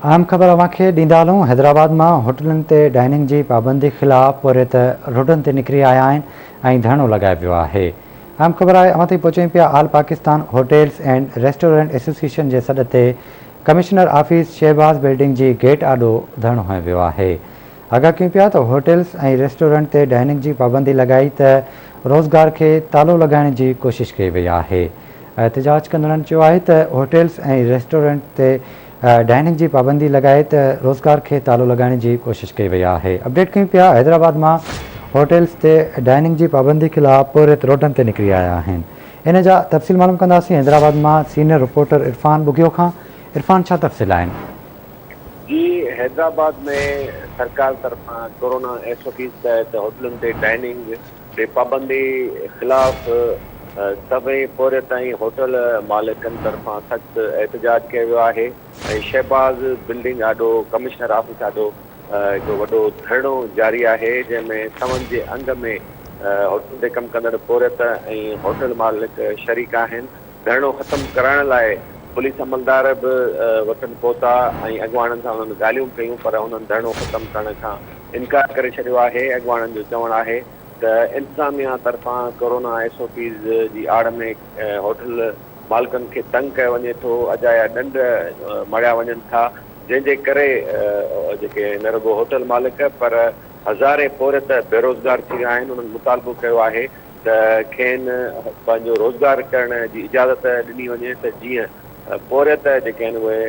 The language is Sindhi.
اهم خبر اوهان کي ڏيندا هلون، حيدرآباد مان هوٽلن تي ڊائننگ جي پابندي خلاف پورهيت روڊن تي نڪري آيا آهن ۽ ڌرڻو لڳايو ويو آهي. اهم خبر آهي اوهان تائين پهچين پيا all Pakistan hotels and restaurant association جي سڏ تي ڪمشنر آفيس شهباز بلڊنگ جي گيٽ آڏو ڌرڻو هنيو ويو آهي. آگاهه ڪيون پيا ته هوٽلز ۽ ريسٽورنٽ تي ڊائننگ جي پابندي لڳائي ته روزگار کي تالو لڳائڻ جي ڪوشش ڪئي وئي آهي. احتجاج ڪندڙن چيو آهي ته هوٽلز ۽ ريسٽورنٽ تي ڊائننگ جي پابندي لڳائي ته روزگار کي تالو لڳائڻ جي ڪوشش ڪئي وئي آهي اپڊيٽ ڪيون پيا حيدرآباد مان هوٽلز تي ڊائننگ جي پابندي خلاف پورهيت روڊن تي نڪري آيا آهن ان جا تفصيل معلوم ڪنداسين حيدرآباد مان سينئر رپورٽر عرفان ٻگهيو کان عرفان ڇا تفصيل آهن. جي حيدرآباد ۾ سرڪار طرفان ڪورونا ايس او پيز تحت هوٽلن تي ڊائننگ تي پابندي خلاف سوين پورهيت ۽ هوٽل مالڪن طرفان سخت احتجاج ڪيو ويو آهي ۽ شهباز بلڊنگ آڏو ڪمشنر آفيس آڏو هڪ وڏو ڌرڻو جاري آهي جنهن ۾ سون جي انگ ۾ هوٽلن تي ڪم ڪندڙ پورهيت ۽ هوٽل مالڪ شريڪ آهن ڌرڻو ختم ڪرائڻ لاء پوليس عملدار به وٽن پهتا ۽ اڳواڻن سان انهن ڳالهيون ڪيون پر انهن ڌرڻو ختم ڪرڻ کان انڪار ڪري ڇڏيو آهي، اڳواڻن جو چوڻ آهي ته انتظاميا طرفان ڪورونا ايس او پيز جي آڙ ۾ هوٽل مالڪن کي تنگ ڪيو وڃي ٿو، اجايا ڏنڊ مڙهيا وڃن ٿا، جنهن جي ڪري جيڪي نه رڳو هوٽل مالڪ پر هزارين پورهيت بيروزگار ٿي ويا آهن، انهن مطالبو ڪيو آهي ته کين پنهنجو روزگار ڪرڻ جي اجازت ڏني وڃي ته جيئن پورهيت جيڪي آهن اهي